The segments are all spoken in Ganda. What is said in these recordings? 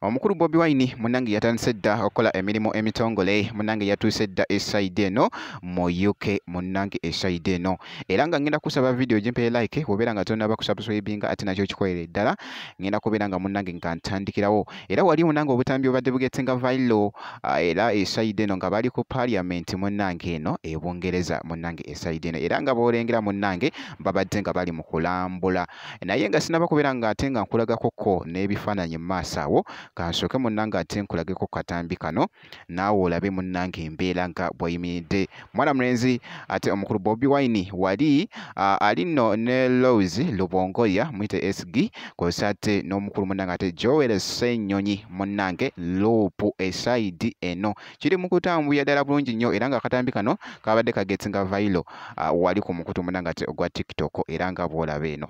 omukulu bobi wine munange yatandise dda okukola emirimu emitongole munange yatuuse dda esaidi eno mu uk munange esaidi eno era nga ngenda kusaba vidiyo gimpere like obeera nga tonaba kusubscribinga ate nakyo kikolere ddala ngenda kubeera nga munange nga ntandikirawo era wali wona nga obutambi obadde bugetse nga vailo ah, era esaide eno nga bali ku parliament munnange eno e bungereza munnange esaide eno era nga boolengera munnange babadde nga bali mu kulambula naye nga sinaba kubeera nga ate nga nkulagakoko n'ebifaananyi mu maaso awo kansooke munnange ate nkulageko katambi kano naawe olabe munnange embeera nga bweyimiridde mwana mulenzi ate omukulu bobi wine wali uh, ali no ne lows lubongoya muyite sg kwesa ate n'omukulu munnange ate joel senyonyi munnange loopu esaidi eno kiri mu kutambuya ddala bulungi nnyo era nga akatambi kano kabadde kagetsi nga vailo uh, wali ku mukutu munnange ate ogwa tiktok era nga bwolaba eno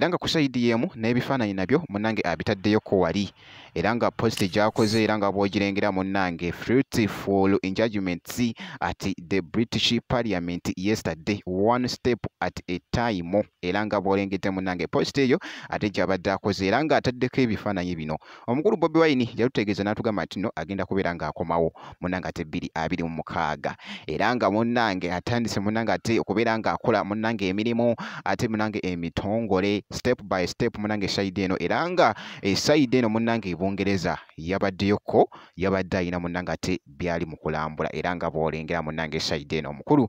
era nga ku sayidi y'emu n'ebifaananyi nabyo munnange abitaddeyoko wali era nga positi gy'akoze era nga bw'ogirengera munnange fruitful enjudgments at the british parliament yesterday one step at a time era nga bwolengedde munange post eyo ate gyabadde akoze era nga ataddeko ebifaananyi bino omukulu bobi wine yalutegeeza n'atugamba nti no agenda kubeera ng'akomawo munange ate bbiri abiri mu mukaaga era nga munange atandise munange ate okubeera ng'akola munange emirimu ate munange emitongole step by step munange sayidi eno era nga esayidi eno munange ebungereza yabaddeyokko yabadde alina munange ate byali mu kulambula era nga bwolengera munange sayidi eno omukulu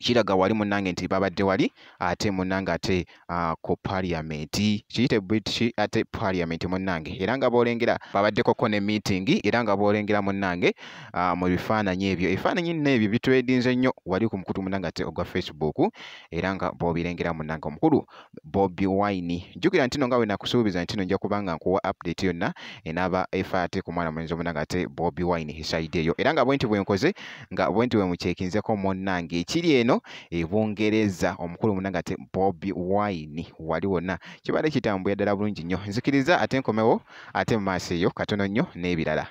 kiraga wali munange nti babadde wali ate munange ate uh, ku parliament kiyite british ate parliament munange era nga bolengera babaddeko ko ne meeting era nga bolengera munange uh, mu bifaananyi ebyo ebifaananyi nno ebyo bitwedinze nnyo wali ku mukutu munange ate ogwa facebook era nga bobilengera munange omukulu Bobi Wine. Jjukira ntino nga bwe nakusuubiza ntino nja kuba nga nkuwa update yonna enaaba efa ate ku mwana mulenzi omunanga ate Bobi Wine hisaide eyo era nga bwenti bwenkoze nga bwenti bwemukyekinzeko munnange ekiri eno e Bungereza omukulu munanga ate Bobi Wine wali wonna kibadde kitambulira ddala bulungi nnyo nzikiriza ate nkomewo ate mu maaso eyo katono nnyo n'ebirala.